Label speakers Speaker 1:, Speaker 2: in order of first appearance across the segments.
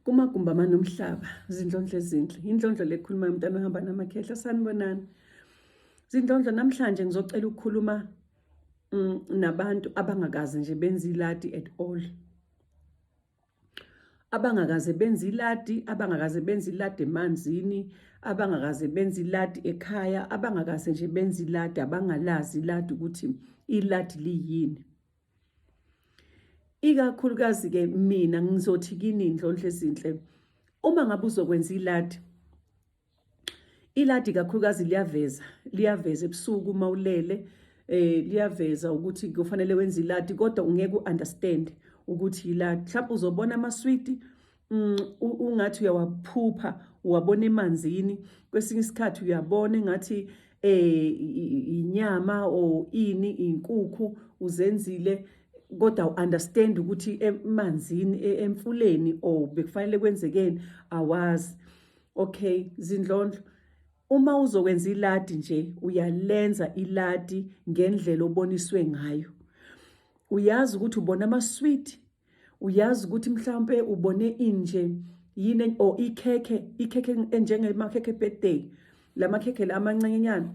Speaker 1: kumagumbi amanomhlaba zindlondlo ezinhle indlondlo lekhulumayo umntana ohamba namakhehla sanibonani zindlondlo namhlanje ngizocela ukukhuluma mm, nabantu abangakazi nje benza iladi at all abangakaze benze iladi abangakaze benze iladi emanzini abangakaze benze iladi ekhaya abangakaze nje benze iladi abangalazi iladi ukuthi iladi liyini ikakhulukazi ke mina ngizothi kini indlondle ezinhle uma ngabe uzokwenza iladi iladi kakhulukazi liyaveza liyaveza ebusuku uma ulele eh liyaveza ukuthi kufanele wenze iladi kodwa ungeke uunderstand ukuthi yiladi mhlawumbe uzobona amaswidi Mm, ungathi uyawaphupha uwabona emanzini kwesinye isikhathi uyabona engathi eh inyama or ini inkukhu uzenzile kodwa uunderstand ukuthi emanzini e, emfuleni or bekufanele kwenzekeni awazi okay zindlondlo uma uzokwenza iladi nje uyalenza iladi ngendlela oboniswe ngayo uyazi ukuthi ubona ama sweet uyazi ukuthi mhlawumpe ubone inje yini or ikhekhe ikhekhe enjengemakhekhe birthday lamakhekhe la amancenyana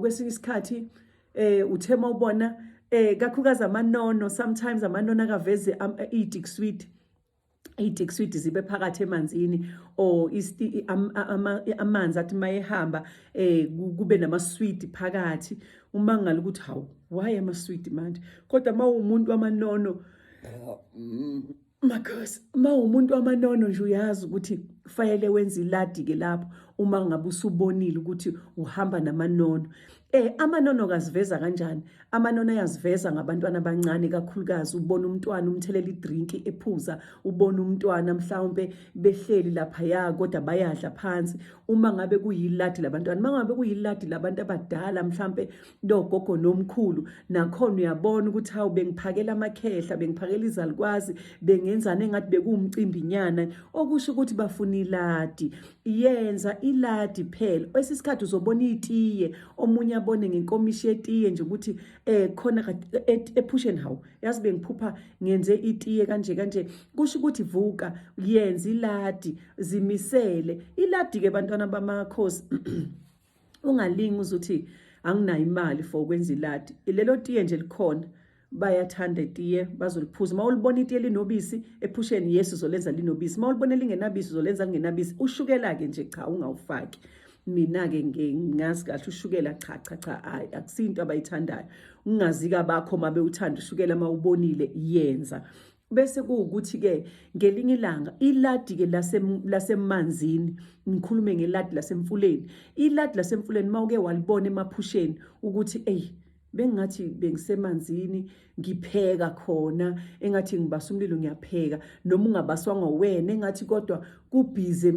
Speaker 1: kwesinye isikhathi eh uthe mawubona eh kakhukazi amanono sometimes amanono akaveze idick sweet idick sweet zibe phakathi emanzini or amanzi athi mayehamba eh kube nama sweet phakathi umangala ukuthi hawu why am sweet manje kodwa uma umuntu wamanono mm, makhosi uma umuntu wamanono nje uyazi ukuthi kufanele wenze iladi-ke lapho uma ngabe usubonile ukuthi uhamba namanono Eh amanono kaziveza kanjani? Amanono ayaziveza ngabantwana abancane kakhulukazi ubona umntwana umthelela idrink ephuza, ubona umntwana mhlawumbe behleli lapha ya kodwa bayadla phansi, uma ngabe kuyiladi labantwana uma ngabe kuyiladi labantu abadala mhlampe logogo nomkhulu nakhona uyabona ukuthi hawu bengiphakela amakhehla bengiphakela izalikwazi bengenzana engathi bekuwumcimbi nyana okusho ukuthi bafuna iladi yenza iladi phela kwesinye isikhathi uzobona itiye omunye abone ngenkomishi yetiye nje ukuthi eh khona ephusheni hawu yazi bengiphupha ngenze itiye kanje kanje kusho ukuthi vuka yenza iladi zimisele iladike bantwana bamakhosi ungalingi uzuthi anginayo imali for ukwenza iladi lelo tiye nje likhona bayathanda itiye bazoliphuza uma ulibona itiye linobisi ephusheni yesu uzolenza linobisi uma ulibona lingenabisi uzolenza lingenabisi ushukela-ke nje cha ungawufaki mina-ke ngazi kahle ushukela cha cha cha hayi akusinto abayithandayo ungazika bakho uma bewuthanda ushukela uma ubonile yenza bese kuwukuthi ke ngelinye ilanga iladi ke lasemanzini ngikhulume ngeladi lasemfuleni iladi lasemfuleni mawuke walibona emaphusheni ukuthi ey bengathi bengisemanzini ngipheka khona engathi ngibasa umlilo ngiyapheka noma ungabaswanga wena engathi kodwa kubhize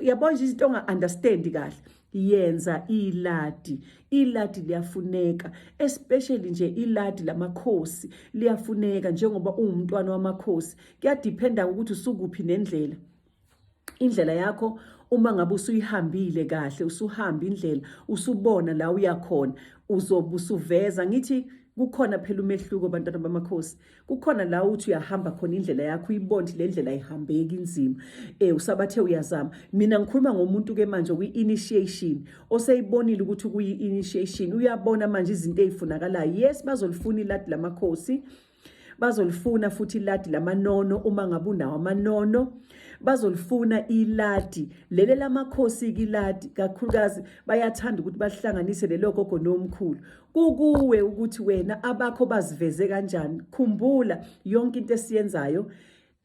Speaker 1: yabona nje izinto onga-understand kahle yenza iladi iladi liyafuneka especially nje iladi lamakhosi liyafuneka njengoba uwumntwana wamakhosi kuyadiphenda ukuthi usukuphi nendlela indlela yakho uma ngabe usuyihambile kahle usuhamba indlela usubona la uyakhona uzobe usuveza ngithi kukhona phela umehluko bantwana bamakhosi kukhona la uthi uyahamba khona indlela yakho uyibonde le ndlela ihambeki inzima eh usabathe uyazama mina ngikhuluma ngomuntu ke manje kwi-initiation oseyibonile ukuthi kuyi-initiation uyabona manje izinto ezifunakalayo yes bazolifuna iladi lamakhosi bazolifuna futhi iladi lamanono uma ngabe unawo amanono bazolifuna iladi lele lamakhosi kiladi kakhulukazi bayathanda ukuthi bahlanganise lelo gogo nomkhulu Kukuwe ukuthi wena abakho baziveze kanjani. Khumbula yonke into esiyenzayo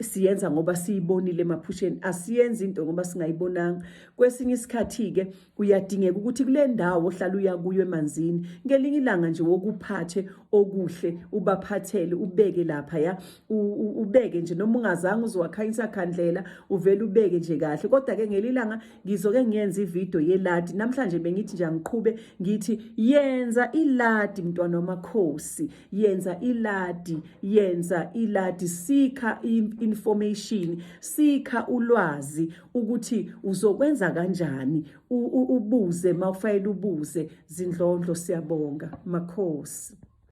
Speaker 1: siyenza ngoba siyibonile emaphusheni asiyenzi into ngoba singayibonanga kwesinye isikhathi ke kuyadingeka ukuthi kule ndawo ohlala uya kuyo emanzini ngelinye ilanga nje wokuphathe okuhle ubaphathele ubeke lapha ya ubeke nje noma ungazange uzowakhanyisa khandlela uvele ubeke nje kahle kodwa ke ngelilanga ngizoke ngiyenze ividiyo yeladi namhlanje bengithi nje angiqhube ngithi yenza iladi mntwana wamakhosi yenza iladi yenza iladi sikha information sikha ulwazi ukuthi uzokwenza kanjani ubuze mawufayela ubuze zindlondlo siyabonga makhosi